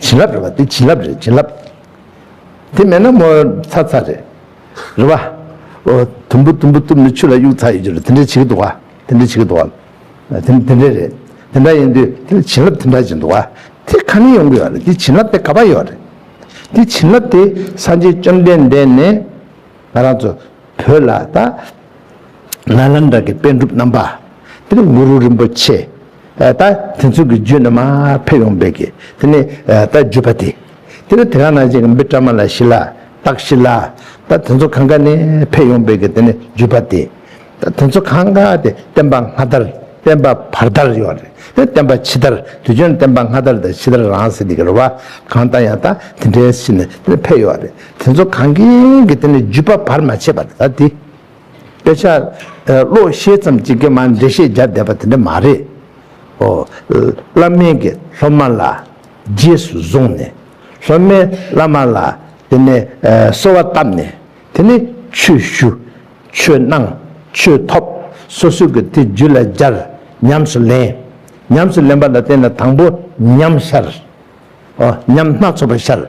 བྱིན་རླབས་རེད་བ་དེ་བྱིན་རླབས་རེད་བྱིན་རླབས། དེ་མེད་ན་མོ་ཚ་ཚ་རེད། རེད་བ། ཨོ། དུམ་བུ་དུམ་བུ་དུམ་ནི་ཆུ་ལ་གཡུག་ཚ་ཡོད་རྒྱུ་རེད་དེ་འདྲས་བྱེད་ཀྱི་འདུག་བ། དེ་འདྲས་བྱེད་ཀྱི་འདུག་བ། དེ་དེ་འདྲས་རེད། དེ་འདྲ་ཡིན་དུས་དེ་ལ་བྱིན་རླབས་དེ་འདྲ་བྱེད་འདུག་བ། དེ་ཁ་ནས་ཡོང་གི་ཡོད་རེད་དེ་བྱིན་རླབས་དེ་ག་པ་ཡོད་རེད། དེ་བྱིན་རླབས་དེ་སངས་རྒྱས་བཅོམ་ལྡན་འདས་ནས་ང་རང་ཚོ་བོད་ལ་ད། ལ་ལ་འདྲ་གི་དཔལ་འགྲུབ་རྣམ་པ། དེ་ནས་གུ་རུ་རིན་པོ་ཆེ། ད་དེ་ཚོ་གི་རྒྱུད་རྣམས་འཕེལ་ཡོང་བས་ཀྱི་དེ་ནི་ད་རྒྱུད་པ་དེ་དེ་ལ་དེ་ག་ནང་བཞིན་འབི་ཀྲ་མ་ལ་ཤི་ལ་ཏག་ཤི་ལ་ད་དེ་ཚོ་གང་ག་ནས་འཕེལ་ཡོང་བས་ཀྱི་དེ་ནི་རྒྱུད་པ་དེ་ད་དེ་ཚོ་གང་ག་དེ་བསྟན་པ་སྔ་དར་བསྟན་པ་བར་དར་ཡོད་རེད་དེ་བསྟན་པ་ཕྱི་དར་དུས་ཆོན་བསྟན་པ་སྔ་དར་དང་ཕྱི་དར་རང་ཟེར་དེ་གི་རེད་བ་གང་ལྟ་ཡང་ད་དེ་འདྲའི་ཤི་ནས་དེ་ནི་འཕེལ་ཡོད་རེད་དེ་ཚོ་གང་གིས་ཀྱི་དེ་ནི་རྒྱུད་པ་བར་མ་ཆད་པར་ད་དེ། དཔེ་ཆ་ཀློག་ཤེས་ཙམ་གྱིས་ཀྱང་འགྲེལ་བཤད་རྒྱག་བསྡད་པ་དེ་འདྲ་མ་རེད། བླ་སྨན་གྱིས་སློབ་མ་ལ་རྗེས་སུ་བཟུང་ནས་སློབ་མས་བླ་མ་ལ་དེ་ནས་གསོལ་བ་བཏབ་ནས་དེ་ནས་ཆོས་ཞུ། ཆོས་གནང། ཆོས་ཐོབ། སོ་སོས་ཀྱི་དེ་རྒྱུད་ལ་སྦྱར། ཉམས་སུ་ལེན། ཉམས་སུ་ལེན་པ་ལ་བརྟེན་ནས་དང་པོ་ཉམས་ཤར། ཉམས་སྣ་ཚོགས་པར་ཤར།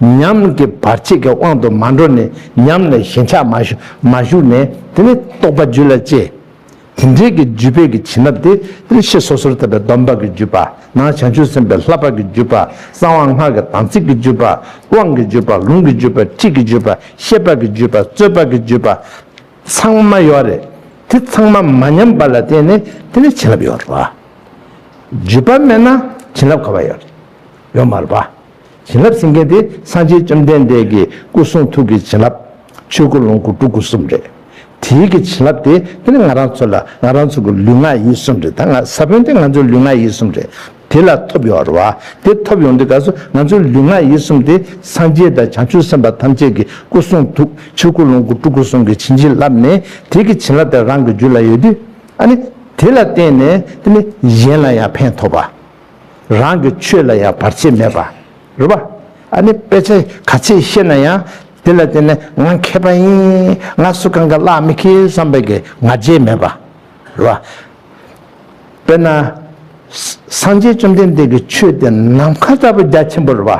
ཉམས་ཀྱི་བར་ཆད་ཀྱི་དབང་དུ་མ་འགྲོ་ནས་ཉམས་ལས་ཞེན་ཆགས་མ་ཞུགས་ནས་དེ་ནས་རྟོག་པ་རྒྱུད་ལ་སྐྱེ། དེ་འབྲེལ་གྱི་རྒྱུད་དཔེ་གྱི་བྱིན་རླབས་ཏེ་ཡེ་ཤེས་སོ་སོར་དག་པའི་སྡོམ་པ་གྱི་རྒྱུད་པ་ན་བྱང་ཆུབ་སེམས་དཔའི་ལྷ་འབར་གྱི་རྒྱུད་པ་གསང་བ་སྔགས་ཀྱི་དམ་ཚིག་གི་རྒྱུད་པ་དབང་གི་རྒྱུད་པ་ལུང་གི་རྒྱུད་པ་ཁྲིད་ཀྱི་རྒྱུད་པ་ཤེས་པ་གྱི་རྒྱུད་པ་རྩོད་པ་གྱི་རྒྱུད་པ་ཚང་མ་ཡོད་རེད་དེ་ཚང་མ་མ་ཉམས་པ་ལ་བརྟེན་ནས་དེ་ནས་བྱིན་རླབས་ཡོད་རེད་བ། བརྗོད་པ་སྨྲས་ན་བྱིན་རླབས་ག་བ་ཡོད་ཡོད་མ་རེད་པ། བྱིན་རླབས་ཟེར་མཁན་དེ་སངས་རྒྱས་བཅོམ་ལྡན་འདས་ཀྱི་སྐུ་གསུང་ཐུགས་ཀྱི་བྱིན་རླབས་ཆོས་སྐུ་ལོངས་སྐུ་སྤྲུལ་སྐུ་གསུམ་རེད། དེའི་གི་བྱིན་རླབས་དེ་དེ་ནི་ང་རང་ཚོ་ལ་ང་རང་ཚོ་གི་ལུས་ངག་ཡིད་གསུམ་རེད་ད་ང་ས་བོན་དེ་ང་ཚོའི་ལུས་ངག་ཡིད་གསུམ་རེད་དེ་ལ་ཐོབ་ཡོང་བ་རེད་བ། དེ་ཐོབ་ཡོང་དུས་ག་སོ་ང་ཚོའི་ལུས་ངག་ཡིད་གསུམ་དེ་སངས་རྒྱས་དང་བྱང་ཆུབ་སེམས་དཔའ་ཐམས་ཅད་ཀྱི་སྐུ་གསུང་ཐུགས་ཆོས་སྐུ་ལོངས་སྐུ་སྤྲུལ་སྐུ་གསུམ་གྱི་བྱིན་གྱིས་བརླབས་ནས་དེའི་གི་བྱིན་རླབས་དེ་རང་གི་རྒྱུད་ལ་ཡོད་དུས། ཨ་ནི། དེ་ལ་བརྟེན་ནས་དེ་ནི་གཞན་ལ་ཡང་ཕན་ཐོགས་པ། རང་གི་ཆོས་ལ་ཡང་བར་ཆད་མེད་པ་རེད་པ། ཨ་ནི་དཔེ་ཆ་ག་ཚད་ཤེས་ན་ཡང་དེ་ལ་བརྟེན་ནས་ང་མཁས་པ་ཡིན། ང་སུ་གང་གི་གླགས་མི་ཁེལ་བསམ་པའི་གི་ང་རྒྱལ་མེད་པ་རེད་པ། དཔེར་ན། སངས་རྒྱས་བཅོམ་ལྡན་འདས་ཀྱི་ཆོས་དེ་ནམ་མཁའ་ལྟ་བུ་རྒྱ་ཆེན་པོ་རེད་པ།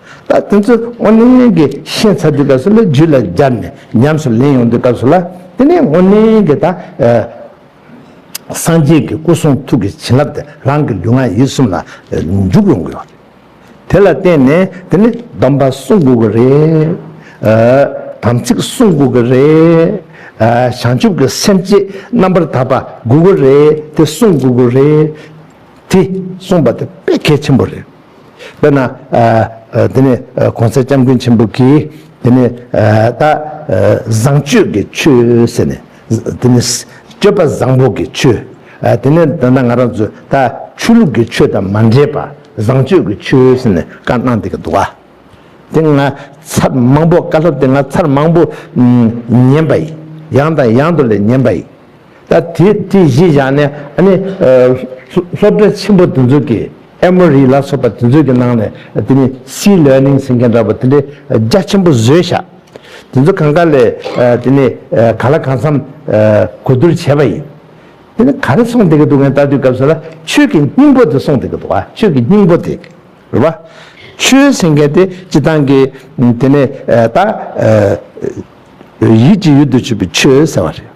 ད་དེ་ཚོ་སྔོ་ལེན་ལེན་གྱི་ཤེས་ཚར་དུས་སྐབས་སུ་ལ་རྒྱུད་ལ་སྦྱར་ནས་ཉམས་སུ་ལེན་ཡོང་དུས་སྐབས་སུ་ལ་དེ་ནས་སྔོ་ལེན་གྱི་ད་སངས་རྒྱས་ཀྱི་སྐུ་གསུང་ཐུགས་ཀྱི་བྱིན་རླབས་དེ་རང་གི་ལུས་ངག་ཡིད་གསུམ་ལ་འཇུག་ཡོང་གི་ཡོད་རེད། དེ་ལ་བརྟེན་ནས་དེ་ནས་སྡོམ་པ་སྲུང་དགོས་ཀྱི་རེད། དམ་ཚིག་སྲུང་དགོས་ཀྱི་རེད། བྱང་ཆུབ་ཀྱི་སེམས་བསྐྱེད་རྣམ་པར་དག་པ་དགོས་ཀྱི་རེད་དེ་སྲུང་དགོས་ཀྱི་རེད། དེ་སྲུང་བ་དེ་དཔེ་གལ་ཆེན་པོ་རེད། དཔེར་ན། དེ་ནས་གོང་གསལ་སྐྱབས་མགོན་ཆེན་པོ་གིས་དེ་ནས་ད། བཟང་སྤྱོད་ཀྱི་ཆོས་ཟེར་ནས། དེ་ནས། སྤྱོད་པ་བཟང་པོ་གྱི་ཆོས། དེ་ནས་ད་ང་རང་ཚོས་ད་ཆོས་ལུགས་ཀྱི་ཆོས་དང་མ་འདྲེས་པ་བཟང་སྤྱོད་ཀྱི་ཆོས་ཟེར་ནས་བཀའ་གནང་འདི་ག་འདུག་ག། དེ་ང་ཚར་མང་པོ་བཀའ་སློབ་དེ་ང་ཚར་མང་པོ་ཉན་པ་ཡིན། ཡང་དང་ཡང་དུ་ལས་ཉན་པ་ཡིན། ད་དེ་དེ་གཞི་བཞག་ནས་ནི། སློབ་གྲྭ་ཆེན་པོ་དེ་ཚོ་གི་ཨེ་མོ་རི་ལ་སོགས་པ་དེ་ཚོ་གི་ནང་ནས་དེ་ནི་སི་ལེར་ནིང་ཟེར་མཁན་འདྲ་པོ་དེ་འདྲའི་རྒྱ་ཆེན་པོ་བཟོས་བཞག་དེ་ཚོ་གང་ག་ལས་དེ་ནི་ག་ལ་གང་འཚམ་གོ་བསྡུར་བྱས་པ་ཡིན། དེ་ནི་ག་རེ་གསུངས་བསྡད་ཀྱི་འདུག་གནས་བལྟ་དུས་སྐབས་སུ་ལ་ཆོས་ཀྱི་སྙིང་པོ་དེ་གསུངས་བསྡད་ཀྱི་འདུག་བ་ཆོས་ཀྱི་སྙིང་པོ་དེ་རེད་བ། ཆོས་ཟེར་མཁན་དེ་སྤྱི་བཏང་གི་དེ་ནི་ད། ཡིད་ཀྱི་ཡུལ་དུ་ཆུད་པའི་ཆོས་ཟེར་བ་རེད།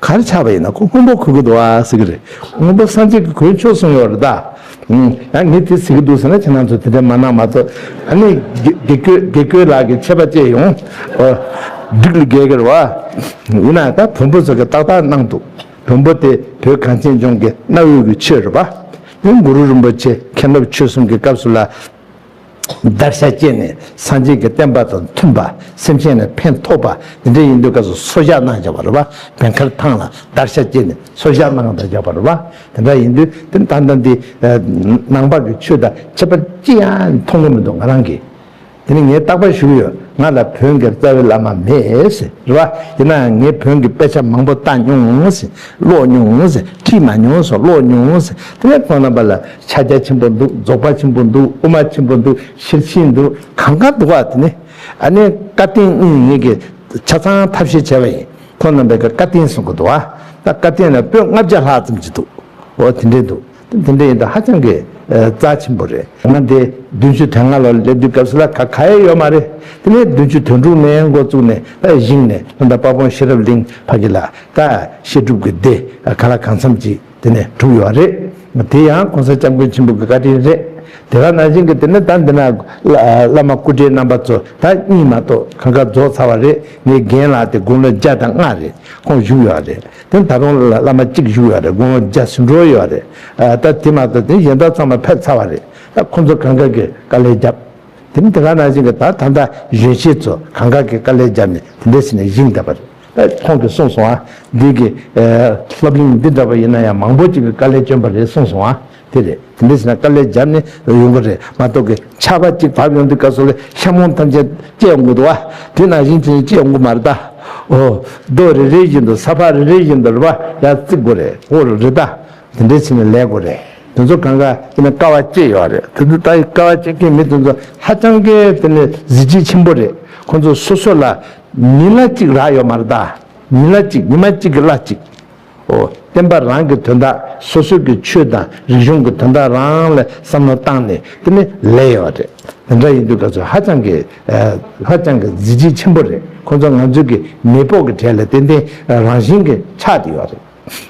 གར་ཆགས་པ་ཡིན་ན་ཁོ་སྔོན་པོ་གོ་གི་འདུག་ཨ་ཟེར་གི་རེད། སྔོན་པོ་སངས་རྒྱས་ཀྱི་གོས་མཆོག་གསུངས་ཡོད་རེད་ད། ཡང་ངས་དེ་ཟེར་གི་འདུག་ཟེར་ན་ཁྱེད་རང་ཚོས་དེ་འདྲ་མ་གནང་མ་གཏོགས་ཨ་ནི་དགེ་སྐོས་ལགས་ཀྱི་ཆད་པ་བཅད་ཡོང། སྒྲིག་ལུགས་རྒྱལ་གྱུར་བ། ཡིན་ན་ད་བོན་པོ་ཟེར་གི་ཏག་ཏག་གནང་འདུག་བོན་པོ་དེ་བོད་གངས་ཅན་ལྗོངས་ཀྱི་གནའ་བོའི་གི་ཆོས་རེད་པ། འདི་གུ་རུ་རིན་པོ་ཆེ་མཁན་སློབ་ཆོས་གསུམ་གྱི་སྐབས་སུ་ལ། བརྡར་ཤ་བཅད་ནས་སངས་རྒྱས་ཀྱི་བསྟན་པ་དང་མཐུན་པ་སེམས་ཤེས་ནས་ཕན་ཐོགས་པ་འདི་འདྲ་ཡིན་དུས་སྐབས་སུ་སོ་བཞག་གནང་བྱ་བར་བ་བད་མཁར་ཐང་ལ་བརྡར་ཤ་བཅད་ནས་སོ་བཞག་གནང་བརྡར་བྱ་བར་བ་དེ་འདྲ་ཡིན་དུས་དེ་ལྟ་ན་འདི་ནང་པར་གྱི་ཆོས་དང་ཁྱད་པར་ཅི་ཡང་མཐོང་གི་མི་འདུག་ང་རང་གིས་དེ་ནི་ངས་བརྟག་པར་ཞུས་ཡོད་ང་ལ་བོན་གྱི་རྩ་བའི་བླ་མ་མེད་རེད་བ་ཡིན་ནའང་ངས་བོན་གྱི་དཔེ་ཆ་མང་པོ་བལྟ་མྱོང་ཀློག་མྱོང་ཁྲིད་མ་མྱོང་སོགས་ཀློག་མྱོང་དེ་ནས་ཁོང་རྣམ་པ་ལ་ཕྱག་རྒྱ་ཆེན་པོ་འདུག་རྫོགས་པ་ཆེན་པོ་འདུག་དབུ་མ་ཆེན་པོ་འདུག་ཤེར་ཕྱིན་འདུག་གང་གང་འདུག་བ་དེ་ནི་ཨ་ནི་བཀའ་བསྟན་དབྱིངས་ཉིད་ཀྱི་ཆ་ཚང་ཐབས་ཤེས་བྱ་བ་ཡིན་ཁོང་རྣམ་པས་བཀའ་བསྟན་གསུང་གི་འདུག་བ་ད་བཀའ་བསྟན་ལ་པོད་ལྔ་བརྒྱ་ལྷག་ཙམ་གྱི་འདུག་འོ་དེ་འདྲའི་འདུག་ད་དེ་འདྲ་ཡིན་ད་ཧ་ཅང་གི་རྩ་ཆེན་པོ་རེད་ང་འདི་བདུན་ཅུ་དོན་ལྔ་ལོར་སླེབས་དུས་སྐབས་སུ་ལ་ག་ག་ཡེ་ཡོད་མ་རེད་དེ་ནས་བདུན་ཅུ་དོན་དྲུག་ནས་འགོ་བཙུགས་ནས་ད་བཞེངས་ནས་ལོ་ཟླ་དཔའ་བོང་ཤེས་རབ་གླིང་ཕ་གི་ལ་ད་བཤད་སྒྲུབ་གི་སྡེ་ག་ལ་གང་འཚམ་གྱི། དེ་ནས་གྲུབ་ཡོད་རེད། དེ་ཡང་གོང་ས་སྐྱབས་མགོན་ཆེན་པོ་གི་བཀའ་དྲིན་རེད། དེ་ག་ནང་བཞིན་གྱི་དེ་ནི་ད་འདི་ན་བླ་མ་སྐུ་བགྲེས་རྣམ་པ་ཚོ་ད་གཉིས་མ་གཏོགས་གང་ག་རྫོགས་ཚར་བ་རེད་ངའི་རྒན་ལགས་དེ་དགུང་ལོ་བརྒྱ་དང་ལྔ་རེད་ཁོང་བཞུགས་ཡོད་རེད་དེ་ད་རུང་བླ་མ་གཅིག་བཞུགས་ཡོད་རེད་དགུང་ལོ་བརྒྱ་ཟིན་འགྲོ་ཡོད་རེད་ད་དེ་མ་གཏོགས་དེ་གཞན་དག་ཚང་མ་ཕེབས་ཚར་བ་རེད་ད་ཁོང་ཚོ་གང་ག་གི་དཀའ་ལས་བརྒྱབ། དེ་ནི་དེ་ག་ནང་བཞིན་གྱི་ད་ད་ལྟ་གཞོན་སྐྱེས་ཚོ་གང་ག་གི་དཀའ་ལས་བརྒྱབ་ནས་དེ་འདྲའི་ཟེར་ནས་བཞེངས་བསྡད་པ་རེད། ཁོང་གིས་གསུངས་སོང་ཨ། འདི་གི། སློབ་གླིང་འདི་འདྲ་བ་ཡིན་ན་ཡང་མང་པོ་ཅིག་གི་དཀའ་ལས་བསྐྱོན་པ་རེད་གསུངས་སོང་ཨ། དེ་རེད། དེ་འདྲ་བྱས་ན་དཀའ་ལས་རྒྱབ་ནས་ཡོང་གི་རེད་མ་གཏོགས་གི། ཆར་པ་གཅིག་བབས་ཡོང་དུས་བཀའ་ཟུར་ལས་ཤ་མོང་ཐམས་ཅད་སྐྱེས་ཡོང་གི་འདུག་ཨ། དེ་ནང་བཞིན་ཚུལ་སྐྱེས་ཡོང་གི་མ་རེད་ད། ཨོ། རྡོ་རེ་རེ་བཞིན་དུ་ས་ཕག་རེ་རེ་བཞིན་དུ་རེ་བ་ཡར་བརྩིགས་དགོས་རེད་ཨོ། རེད་ད། དེ་འདྲ་བྱས་ནས་ལས་དགོས་རེད། དེ་ཚོ་གང་གཱ་ཡིན་ན་དཀའ་བ་སྐྱེས་ཡོད་རེད་དེ་ཚོ་ད་ཡི་དཀའ་བ་སྐྱེས་མཁན་མི་དེ་ཚོ་ཧ་ཅང་གི་དེ་ནི་གཟི་བརྗིད་ཆེན་པོ་རེད་ཁོང་ཚོ་སོ་སོ་ལ། ཉིན་གླ་གཅིག་རག་ཡོད་མ་རེད་དཱ། ཉིན་གླ་གཅིག་ཉི་མ་གཅིག་གི་གླ་གཅིག། ཨོ། བསྟན་པ་རང་གི་དོན་དག་སོ་སོ་གི་ཆོས་དང་རིག་གཞུང་གི་དོན་དག་རང་ལ་བསམ་བློ་བཏང་ནས་དེ་ནི་ལས་ཡོད་རེད། དེ་འདྲ་ཡིན་དུས་ང་ཚོ་ཧ་ཅང་གི་ཧ་ཅང་གི་གཟི་བརྗིད་ཆེན་པོ་རེད་ཁོང་ཚོ་ང་ཚོའི་གི་མེས་པོ་གི་གྲས་ལ་ཏན་ཏན་རང་བཞིན་གི་ཆགས་ཏེ་ཡོད་རེད།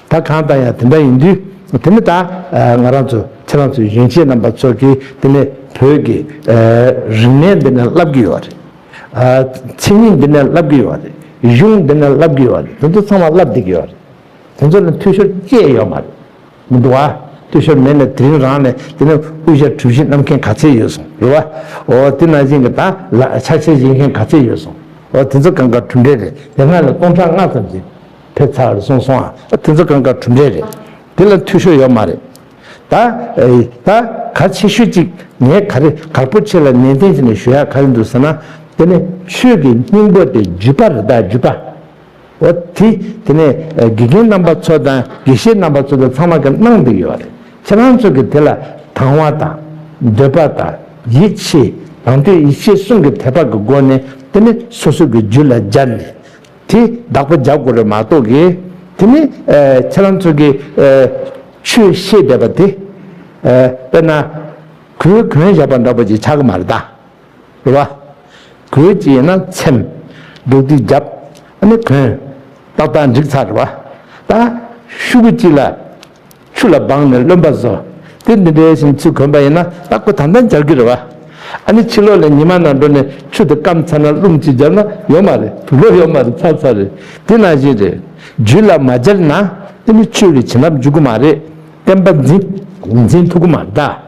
ད་གང་ལྟ་ཡང་དེ་འདྲ་ཡིན་དུས་དེ་ནི་ད་ང་རང་ཚོ་ཁྱེད་རང་ཚོའི་ཡོན་ཆེད་རྣམ་པ་ཚོ་གིས་དེ་ནི་བོད་ཀྱི་རིག་གནས་འདི་ནི་བསླབ་ཀྱི་ཡོད་རེད། མཚན་ཉིད་འདི་ནི་བསླབ་ཀྱི་ཡོད་རེད། གཞུང་འདི་ནི་བསླབ་ཀྱི་ཡོད་རེད་དེ་ཚོ་ཚང་མ་བསླབ་བསྡད་ཀྱི་ཡོད་རེད། དེ་ཚོ་ནི་འཐུས་ཤོར་སྐྱེས་ཡོད་མ་རེད། མི་འདུག་བ། འཐུས་ཤོར་མེད་ནས་དེ་རིང་རང་ནས་དེ་ནི་དབུ་ཞྭ་གྲུ་བཞི་བསྣམས་མཁན་ག་ཚད་ཡོད་སོང་རེད་བ། འོ་དེ་ནང་བཞིན་གྱི་ད་ལ་ཕྱག་འཚལ་བཞེས་མཁན་ག་ཚད་ཡོད་སོང། འོ་དེ་ཚོ་གང་ག་གྲུ་འདྲེ་རེད་དེ་སྔར་ལས་སྟོང་ཕྲག་ལྔ་ཙམ་ཟིན། ཕེབས་ཚར་སོང་སོང་ཨ། དེ་ཚོ་གང་ག་གྲུབ་འབྲས་རེད། དེ་ལ་འཐུས་ཤོར་ཡོད་མ་རེད། ད་ད་ག་ཆེ་ཤོས་ཅིག་ངས་ག་རེ་ག་པོ་ཁྱེད་ལ་ནན་ཏན་བྱས་ནས་ཞུ་ཡག་ག་རེ་འདུག་ཟེར་ན། དེ་ནི་ཆོས་ཀྱི་སྙིང་པོ་སྟེ་རྒྱུད་པ་རེད་ད་རྒྱུད་པ། འོ་དེ་དེ་ནས་དགེ་རྒན་རྣམ་པ་ཚོ་དང་དགེ་བཤེས་རྣམ་པ་ཚོ་དང་ཚང་མ་གི་གནང་འདོད་ཡོད་པ་རེད། ཁྱེད་རང་ཚོ་གི་དེ་ལ་དང་བ་དང། འདོད་པ་དང་ཡིད་ཆེས་དང་དོད་ཡིད་ཆེས་གསུམ་གི་དད་པ་གི་སྒོ་ནས་དེ་ནི་སོ་སོ་གི་རྒྱུད་ལ་སྦྱར་ནས་དེ་བདག་པོ་བརྒྱ་དགུ་རེ་མ་གཏོགས་ཀྱི། དེ་ནི་ཁྱེད་རང་ཚོ་གི། ཆོས་ཤེས་བསྡད་པ་དེ། དཔེར་ན། གོས་གོན་བཞག་པ་འདྲ་པོ་ཅིག་ཆགས་ཀྱི་མ་རེད་དཱ། རེད་བ། གོས་ཅིག་ཡིན་ན་འཚེམ། འདུག་སྟེ་བརྒྱབ། ཨ་ནི་གོན། ཏག་ཏག་འགྲིག་ཚར་རེད་བ། ད། ཤུགས་ཀྱིས་ལ། ཆུ་ལ་སྦངས་ནས་རློན་པ་བཟོ། དེ་འདི་འདྲའི་ཞིང་ཆུ་གོན་པ་ཡིན་ན་ད་སྐུ་དང་ལྡན་སྦྱར་རྒྱུ་རེད་བ། ཨ་ནི་ཕྱི་ལོག་ལས་ཉི་མ་ནང་འགྲོ་ནས་ཆུ་དེ་སྐམ་ཚར་ན་རླུང་གཅིག་སྦྱར་ན་ཡོད་མ་རེད་དུ་ལོ་ཡོད་མ་རེད་ཚར་ཚར་རེད་དེ་ནང་བཞིན་རེད། རྒྱུད་ལ་མ་སྦྱར་ན་ཨ་ནི་ཆོས་ལས་བྱིན་རླབས་འཇུག་གི་མ་རེད་བསྟན་པ་འཛིན་འཛིན་ཐུབ་གི་མ་རེད་ད།